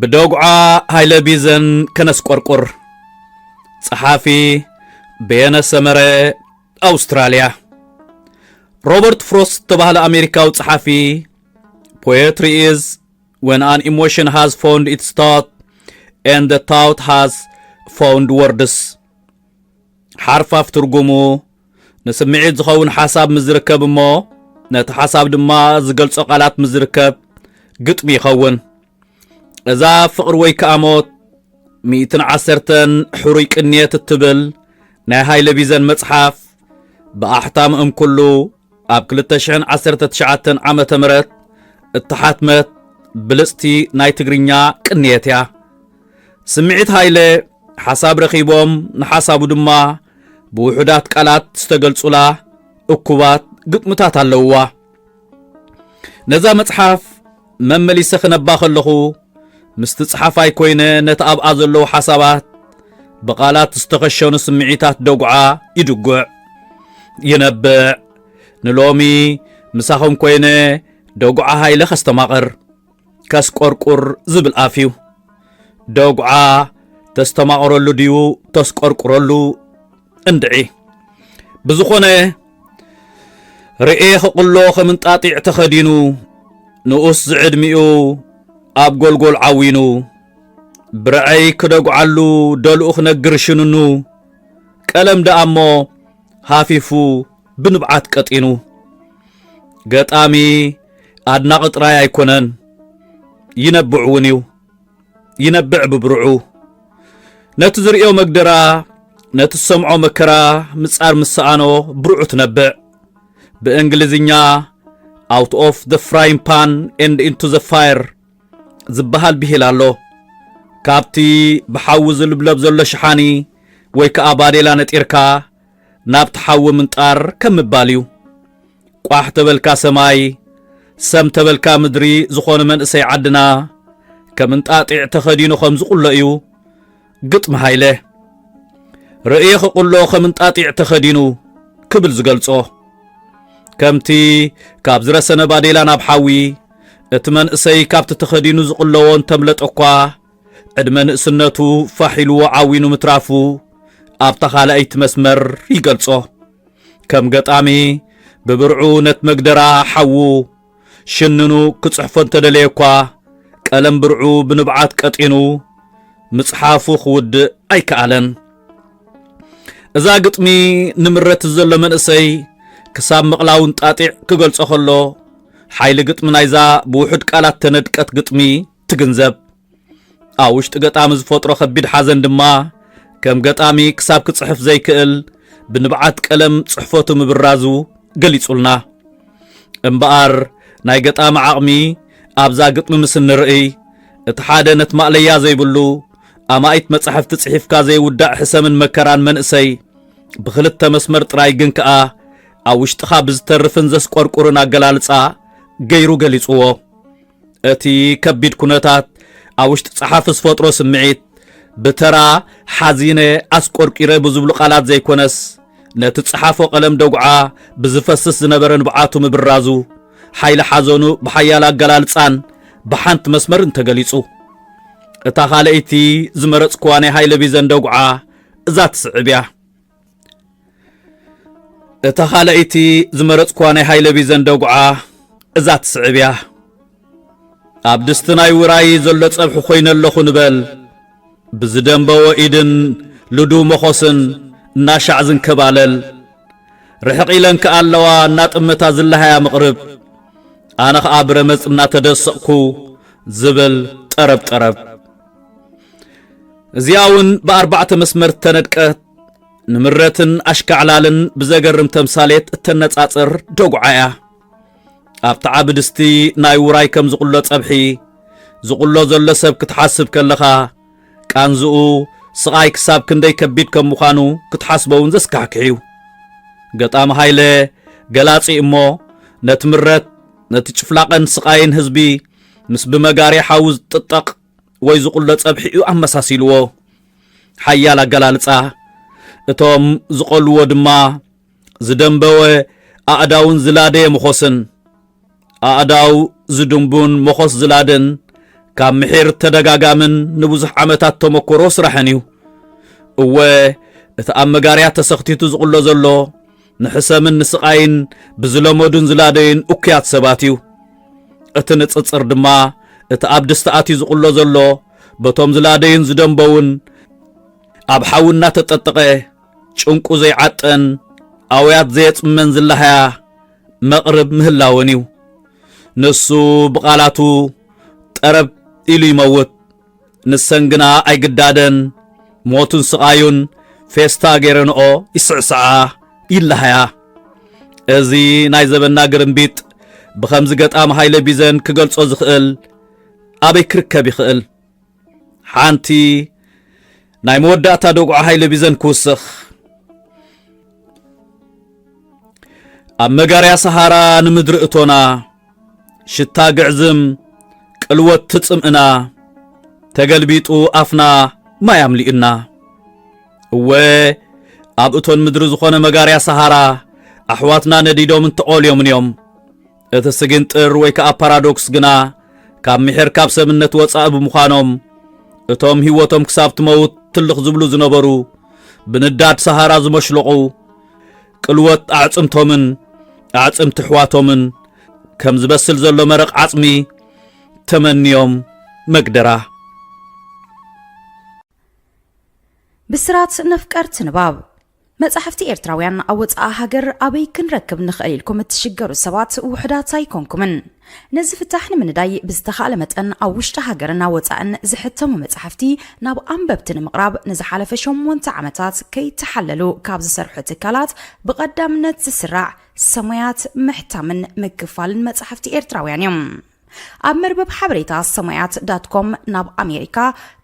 ብደጉዓ ሃይለ ቢዘን ከነስቆርቁር ጸሓፊ በየነ ሰመረ ኣውስትራልያ ሮበርት ፍሮስት ተባህለ ኣሜሪካዊ ጸሓፊ ፖየትሪ ኢዝ When an emotion has found its thought and the thought has found words ሓርፋፍ ትርጉሙ ንስምዒት ዝኸውን ሓሳብ ምስ ዝርከብ እሞ ነቲ ሓሳብ ድማ ዝገልጾ ቃላት ምስ ዝርከብ ግጥሚ ይኸውን እዛ ፍቕሪ ወይ ከዓ ሞት ሚእትን ዓሰርተን ሕሩይ ቅንየት እትብል ናይ ሃይለ ቢዘን መጽሓፍ ብኣሕታም እምኩሉ ኣብ ክልተ ሽሕን ዓሰርተ ትሽዓተን ዓመተ ምህረት እተሓትመት ብልጽቲ ናይ ትግርኛ ቅንየት እያ። ስምዒት ሃይለ ሓሳብ ረኺቦም ንሓሳቡ ድማ ብውሑዳት ቃላት ዝተገልጹላ እኩባት ግጥምታት ኣለውዋ። ነዛ መጽሓፍ መመሊሰ ክነባ ከለኹ ምስቲ ጸሓፋይ ኮይነ ነቲ ኣብኣ ዘለዉ ሓሳባት ብቓላት ዝተኸሸኑ ስምዒታት ደጉዓ ይድጉዕ ይነብዕ ንሎሚ ምሳኹም ኮይነ ደጉዓ ሃይለ ከስተማቕር ከስቆርቁር ዝብል ኣፍ እዩ ደጉዓ ተስተማቕረሉ ድዩ ተስቆርቁረሉ እንድዒ ብዝኾነ ርኤ ክቕሎ ከም እንጣጢዕ ተኸዲኑ ንኡስ ዝዕድሚኡ ኣብ ጎልጎል ዓዊኑ ብርዐይ ክደጉዓሉ ደልኡ ክነግር ሽንኑ ቀለም ደኣ እሞ ሃፊፉ ብንብዓት ቀጢኑ ገጣሚ ኣድናቒ ጥራይ ኣይኮነን ይነብዕ እውን እዩ ይነብዕ ብብርዑ ነቲ ዝርእዮ መግደራ ነቲ ዝሰምዖ መከራ ምጻር ምስ ሰኣኖ ብርዑ ትነብዕ ብእንግሊዝኛ ኣውት ኦፍ ዘ ፍራይን ፓን ኤንድ ኢንቱ ዘ ፋየር ዝበሃል ብሂል ኣሎ ካብቲ ብሓዊ ዝልብለብ ዘሎ ሸሓኒ ወይ ከዓ ባዴላ ነጢርካ ናብቲ ሓዊ ምንጣር ከም ምባል እዩ። ቋሕ ተበልካ ሰማይ ሰም ተበልካ ምድሪ ዝኾነ መንእሰይ ዓድና ከም እንጣጢዕ ተኸዲኑ ከም ዝቑሎ እዩ ግጥሚ ሃይለ። ርእየ ክቑሎ ከም እንጣጢዕ ተኸዲኑ ክብል ዝገልጾ ከምቲ ካብ ዝረሰነ ባዴላ ናብ ሓዊ እቲ መንእሰይ ካብቲ ተኸዲኑ ዝቕለዎ እንተምለጠ እኳ ዕድመ ንእስነቱ ፋሕ ኢሉዎ ዓዊኑ ምትራፉ ኣብታ ካልኣይቲ መስመር ይገልጾ። ከም ገጣሚ ብብርዑ ነት መግደራ ሓዉ ሽንኑ ክጽሕፎ እንተደለየኳ ቀለም ብርዑ ብንብዓት ቀጢኑ ምጽሓፉ ክውድእ ኣይከኣለን። እዛ ግጥሚ ንምረትት ዘሎ መንእሰይ ክሳብ ምቕላው እንጣጢዕ ክገልጾ ከሎ ሓይሊ ግጥሚ ናይዛ ብውሑድ ቃላት ተነድቀት ግጥሚ ትግንዘብ። ኣብ ውሽጢ ገጣሚ ዝፈጥሮ ከቢድ ሓዘን ድማ ከም ገጣሚ ክሳብ ክጽሕፍ ዘይክእል ብንብዓት ቀለም ጽሕፈቱ ምብራዙ ገሊጹልና። እምበኣር ናይ ገጣሚ ዓቕሚ ኣብዛ ግጥሚ ምስ እንርእይ እቲ ሓደ ነቲ ማእለያ ዘይብሉ ኣማኢት መጻሕፍቲ ጽሒፍካ ዘይውዳእ ሕሰምን መከራን መንእሰይ ብኽልተ መስመር ጥራይ ግን ከኣ ኣብ ውሽጥኻ ብዝተርፍን ዘስቆርቁርን ኣገላልጻ ገይሩ ገሊጽዎ። እቲ ከቢድ ኩነታት ኣብ ውሽጢ ጸሓፊ ዝፈጥሮ ስምዒት ብተራ ሓዚነ፣ ኣስቆርቂረ ብዝብሉ ቃላት ዘይኮነስ ነቲ ጸሓፎ ቀለም ደጉዓ ብዝፈስስ ዝነበረ ንብዓቱ ምብራዙ ሓይሊ ሓዘኑ ብሓያል ኣገላልጻን ብሓንቲ መስመርን ተገሊጹ። እታ ካልኣይቲ ዝመረጽክዋ ናይ ሃይለ ቢዘን ደጉዓ እዛ ትስዕብ እያ። እታ ኻልኣይቲ ዝመረጽኳ ናይ ሃይለ ቢዘን ደጉዓ እዛ ትስዕብ እያ ኣብ ድስቲ ናይ ውራይ ዘሎ ጸብሒ ኮይነ ኣለኹ ንበል ብዝደንበዎ ኢድን ልዱ መኾስን እናሻዕ ዝንከባለል ርሕቕ ኢለን ከኣ ኣለዋ እናጥመታ ዝለሃያ ምቕርብ ኣነ ኸኣ ብረመጽ እናተደሰቕኩ ዝብል ጠረብ ጠረብ እዚኣ እውን ብኣርባዕተ መስመር እተነድቀ ንምረትን ኣሽካዕላልን ብዘገርም ተምሳሌት እተነጻጽር ደጉዓ እያ ኣብ ተዓ ብድስቲ ናይ ውራይ ከም ዝቕሎ ጸብሒ ዝቕሎ ዘሎ ሰብ ክትሓስብ ከለኻ ቃንዝኡ ስቓይ ክሳብ ክንደይ ከቢድ ከም ምዃኑ ክትሓስቦ እውን ዘስካሕክሕ እዩ ገጣሚ ሃይለ ገላጺ እሞ ነቲ ምረት ነቲ ጭፍላቐን ስቓይን ህዝቢ ምስ ብመጋርያ ሓዊ ዝጥጠቕ ወይ ዝቑሎ ጸብሒ'ዩ ኣመሳሲልዎ። ሓያል ኣገላልጻ! እቶም ዝቐልዎ ድማ ዝደምበወ ኣእዳውን ዝላደየ መኾስን። ኣእዳው ዝድምቡን መኾስ ዝላድን ካብ ምሒር ተደጋጋምን ንብዙሕ ዓመታት ተመኮሮ ስራሕን እዩ። እወ እቲ ኣብ መጋርያ ተሰኽቲቱ ዝቑሎ ዘሎ ንሕሰምን ንስቓይን ብዝለመዱን ዝላደዩን እኩያት ሰባት እዩ። እቲ ንጽጽር ድማ እቲ ኣብ ድስቲ ኣትዩ ዝቕሎ ዘሎ በቶም ዝላደዩን ዝደንበዉን ኣብ ሓዊ እናተጠጠቐ ጭንቁ ዘይዓጠን ኣውያት ዘየጽመን ዝላሃያ መቕርብ ምህላወን እዩ። ንሱ ብቓላቱ ጠረብ ኢሉ ይመውት። ንሰን ግና ኣይግዳደን፣ ሞቱን ስቓዩን ፌስታ ገይረንኦ ይስዕስዓ ይለሃያ። እዚ ናይ ዘበንና ግርምቢጥ ብኸምዚ ገጣሚ ሃይለ ቢዘን ክገልጾ ዝኽእል ኣበይ ክርከብ ይኽእል? ሓንቲ ናይ መወዳእታ ደጉዓ ሃይለ ቢዘን ክውስኽ ኣብ መጋርያ ሰሃራ ንምድሪ እቶና ሽታ ግዕዝም ቅልወት ትጽምእና ተገልቢጡ ኣፍና ማይ ኣምሊኡና እወ ኣብ እቶን ምድሪ ዝኾነ መጋርያ ሰሃራ ኣሕዋትና ነዲዶምን ተቖልዮምን እዮም እቲ ስግንጥር ወይ ከኣ ፓራዶክስ ግና ካብ ምሒር ካብ ሰብነት ወጻኢ ብምዃኖም እቶም ህይወቶም ክሳብ ትመውት ትልኽ ዝብሉ ዝነበሩ ብንዳድ ሰሃራ ዝመሽለቑ ቅልወት ኣዕጽምቶምን ኣዕጽምቲ ኣሕዋቶምን ከም ዝበስል ዘሎ መረቕ ዓጽሚ ተመንዮም መግደራ ብስራት ነፍቀርቲ ንባብ መጻሕፍቲ ኤርትራውያን ኣብ ወጻኢ ሃገር ኣበይ ክንረክብ ንኽእል ኢልኩም እትሽገሩ ሰባት ውሑዳት ኣይኮንኩምን። ነዚ ፍታሕ ንምንዳይ ብዝተኻእለ መጠን ኣብ ውሽጢ ሃገርን ኣብ ወጻእን ዝሕተሙ መጻሕፍቲ ናብ ኣንበብቲ ንምቕራብ ንዝሓለፈ ሸሞንተ ዓመታት ከይተሓለሉ ካብ ዝሰርሑ ትካላት ብቐዳምነት ዝስራዕ ሰሙያት ምሕታምን ምክፋልን መጻሕፍቲ ኤርትራውያን እዮም። ኣብ መርበብ ሓበሬታ ሰማያት ዳትኮም ናብ ኣሜሪካ፣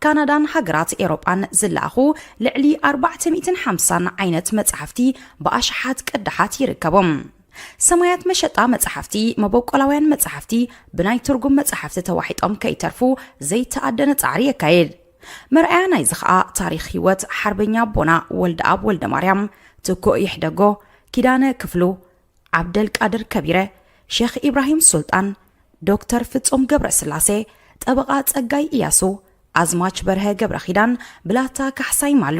ካናዳን ሃገራት ኤውሮጳን ዝለኣኹ ልዕሊ ኣርባዕተ ሚእትን ሓምሳን ዓይነት መጻሕፍቲ ብኣሽሓት ቅዳሓት ይርከቦም። ሰማያት መሸጣ መጻሕፍቲ፣ መበቆላውያን መጻሕፍቲ ብናይ ትርጉም መጻሕፍቲ ተዋሒጦም ከይተርፉ ዘይተኣደነ ጻዕሪ የካይድ። መርኣያ ናይዚ ኸኣ ታሪኽ ህይወት ሓርበኛ ኣቦና ወልደኣብ ወልደማርያም፣ ትኩእ ይሕደጎ፣ ኪዳነ ክፍሉ፣ ዓብደልቃድር ከቢረ፣ ሼኽ ኢብራሂም ሱልጣን፣ ዶክተር ፍጹም ገብረስላሴ፣ ጠበቓ ጸጋይ እያሱ፣ ኣዝማች በርሀ ገብረኺዳን፣ ብላታ ካሕሳይ ማሉ፣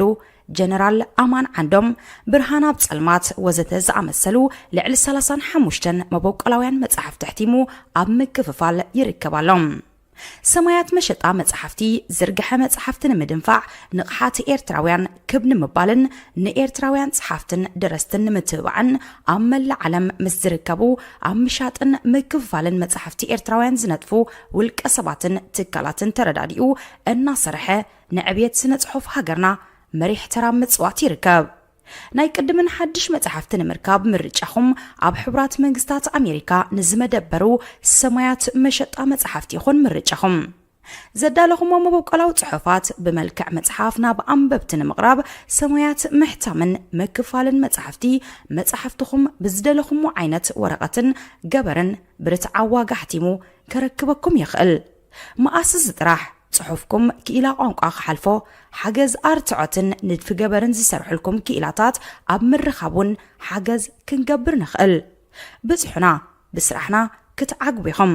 ጀነራል ኣማን ዓንዶም፣ ብርሃን ኣብ ጸልማት ወዘተ ዝኣመሰሉ ልዕሊ ሰላሳን ሓሙሽተን መበቆላውያን መጻሕፍቲ ኣሕቲሙ ኣብ ምክፍፋል ይርከብ ኣሎ። ሰማያት መሸጣ መጽሓፍቲ ዝርግሐ መጽሓፍቲ ንምድንፋዕ ንቕሓት ኤርትራውያን ክብ ንምባልን ንኤርትራውያን ጸሓፍትን ደረስትን ንምትብባዕን ኣብ መላእ ዓለም ምስ ዝርከቡ ኣብ ምሻጥን ምክፍፋልን መጽሓፍቲ ኤርትራውያን ዝነጥፉ ውልቀ ሰባትን ትካላትን ተረዳዲኡ እናሰርሐ ንዕብየት ስነ ጽሑፍ ሃገርና መሪሕ ተራ ምጽዋት ይርከብ። ናይ ቅድምን ሓድሽ መጻሕፍቲ ንምርካብ ምርጫኹም ኣብ ሕቡራት መንግስታት ኣሜሪካ ንዝመደበሩ ሰማያት መሸጣ መጻሕፍቲ ይኹን ምርጫኹም። ዘዳለኹሞ መበቆላዊ ጽሑፋት ብመልክዕ መጽሓፍ ናብ ኣንበብቲ ንምቕራብ ሰማያት ምሕታምን ምክፋልን መጻሕፍቲ መጻሕፍትኹም ብዝደለኹሞ ዓይነት ወረቐትን ገበርን ብርትዓዊ ዋጋ ኣሕቲሙ ከረክበኩም ይኽእል። መኣስስ ጥራሕ ጽሑፍኩም ክኢላ ቋንቋ ክሓልፎ፣ ሓገዝ ኣርትዖትን ንድፊ ገበርን ዝሰርሑልኩም ክኢላታት ኣብ ምርኻብ ውን ሓገዝ ክንገብር ንኽእል። ብጽሑና፣ ብስራሕና ክትዓግቡ ኢኹም።